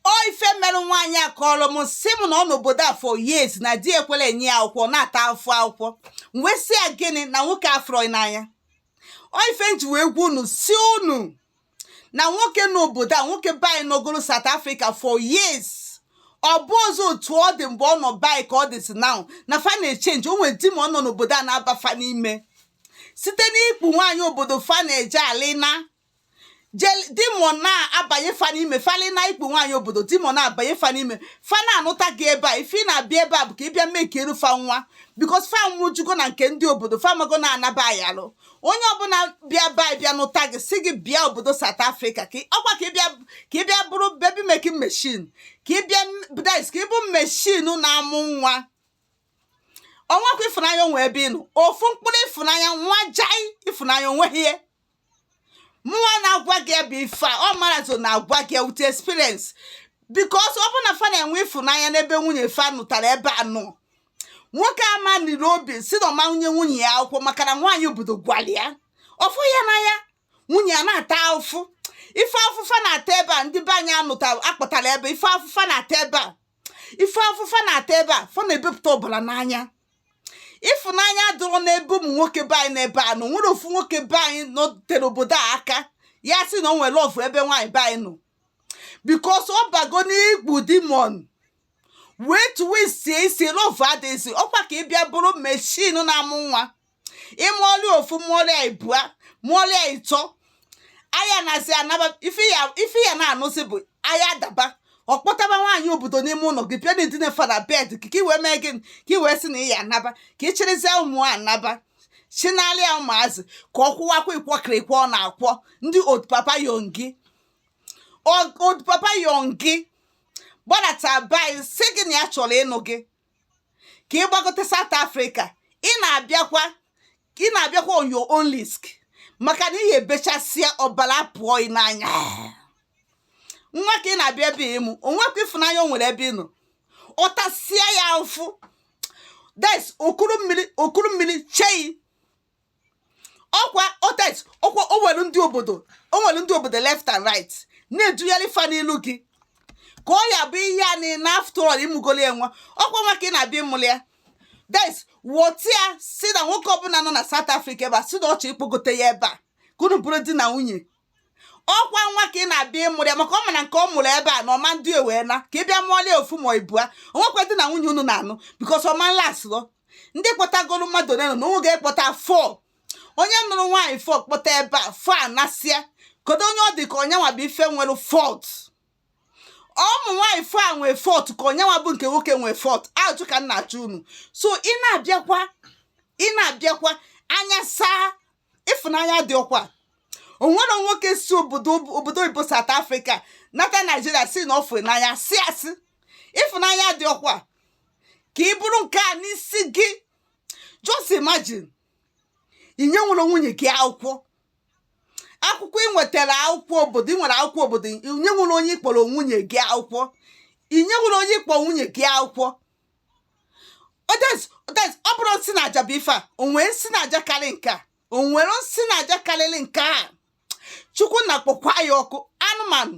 ọ ife merụ nwaanyị a kọrọ m si m na ọ nọ n'obodo a for years na di ekwerọ enye ya akwụkwọ na-ata afụfụ akwụkwọ m wee sị ya gịnị na nwoke afụrọ n'anya ọ ife m ji wee gwa unu si unu na nwoke nọ obodo a nwoke be anyị nọgoro South Africa for years ọ bụrọzị otu ọ dị mgbe ọ nọ be anyị ka ọ dịzi now na fa na-echenji o nwere demon nọ n'obodo a na-aba fa n'ime site n'ikpu nwaanyị obodo fa na-eje alịna demon na-abanye fa n'ime fa alị na ikpu nwaanyị obodo demon na-abanye fa n'ime fa na-anụta gị ebe a ife ị na-abịa ebe a bụ ka ị bịa mụkaara fa nwa because fa nwụjugo na nke ndị obodo fa mago na-anaba anyị alụ onye ọbụla bịa be anyị bịa nụta gị si gị bịa obodo South Africa ka ọkwa ka ị bịa ka ị bịa bụrụ baby making machine ka ị bịa bụ that is ka ị bụ machine na-amụ nwa o nwekwa ịfụnanya o nwe ebe ị nọ ofu mkpụrụ ịfụnanya nwa jai ịfụnanya o nweghị ihe mụnwa na-agwa gị bụ ife a ọ mara so na-agwa gị with experience because ọ bụ na fa na-enwe ịfụnanya n'ebe nwunye fa nụtara ebe a nọ nwoke ama niri obi si na ọ ma-enye nwunye ya akwụkwọ maka na nwaanyị obodo gwara ya ọ fụ ya n'anya nwunye ya na-ata afụfụ ife afụfụ fa na-ata ebe a ndị be anyị anụta akpọtara ebe ife afụfụ fa na-ata ebe a ife afụfụ fa na-ata ebe a fa na-ebepụta ọbara n'anya ịfụnanya adịrọ n'ebe ụmụ nwoke be anyị nọ ebe a nọ nwerọ ofu nwoke be anyị nọtere obodo a aka ya sị na o nwere love ebe nwaanyị be anyị nọ because ọ bago n'ikpu demon wee tuwe sie isi love adịghịzi ọkwa ka ị bịa bụrụ machine na-amụ nwa ị mụọlị ofu mụọlị ya ibua mụọlị ya ịtọ aya na-asị anaba ife ya ife ya na-anụzi bụ aya daba ọ kpọtaba nwaanyị obodo n'ime ụlọ gị bịa na-edina fa na bed gị ka i wee mee gịnị ka i wee sị na ị ya anaba ka ị chịrịzie ụmụ a anaba chịnaara ya ụmụazị ka ọ kwụwakwa ịkwọkịrị ịkwọ ọ na-akwọ ndị old papa yongi old papa yongi gbadata be anyị sị gị na ya chọrọ ịnụ gị ka ị gbagote South Africa ị na-abịakwa ị na-abịakwa on your own risk maka na ị ya-ebechasịa ọbara pụọ ị n'anya nwa ka ị na-abịa ebe ịmụ o nwekwa ịfụnanya o nwere ebe ị nọ ọ tasịa ya ụfụ that is okuru mmiri okuru mmiri chei ọkwa otet ọkwa o were ndị obodo o were ndị obodo left and right na-edugharị fa n'ilu gị ka ọ ya bụ ihe a na after all ị mụgolị ya nwa ọkwa nwa ka ị na-abịa ịmụli ya that is wọta ya si na nwoke ọbụla nọ na South Africa ebe a si na ọ chọ ịkpọgote ya ebe a ka unu bụrụ di na nwunye ọkwa nwa ka ị na-abịa ịmụrụ ya maka ọ ma na nke ọ mụrụ ebe a na ọma ndị ewee na ka ị bịa mụọla ya ofu ma ibua o nwekwa di na nwunye unu na-anụ because ọma nla asụrọ ndị kpọtagoro mmadụ ole nọ na onwe ga-ekpọta four onye nụrụ nwaanyị four kpọta ebe a four anasịa kedu onye ọ dị ka onye nwa bụ ife nwere fault ụmụ nwaanyị four a nwee fault ka onye nwa bụ nke nwoke nwee fault ajụ ka m na-ajụ unu so ị na-abịakwa ị na-abịakwa anya saa ịfụnanya dị ọkwa o nwere nwoke si obodo oyibo South Africa nata Nigeria si na ọ fụ n'anya si asị ịfụnanya dị ọkwa ka ị bụrụ nke a n'isi gị just imagine inye nwere nwunye gị akwụkwọ akwụkwọ ị nwetara akwụkwọ obodo ị nwere akwụkwọ obodo inye nwere onye ị kpọrọ nwunye gị akwụkwọ inye nwere onye ị kpọrọ nwunye gị akwụkwọ ọ bụrụ nsị na aja bụ ife a o nwere nsị na aja karị nke a o nwere nsị na aja karịrị nke a Chukwu nna kpọkwa ya ọkụ anụmanụ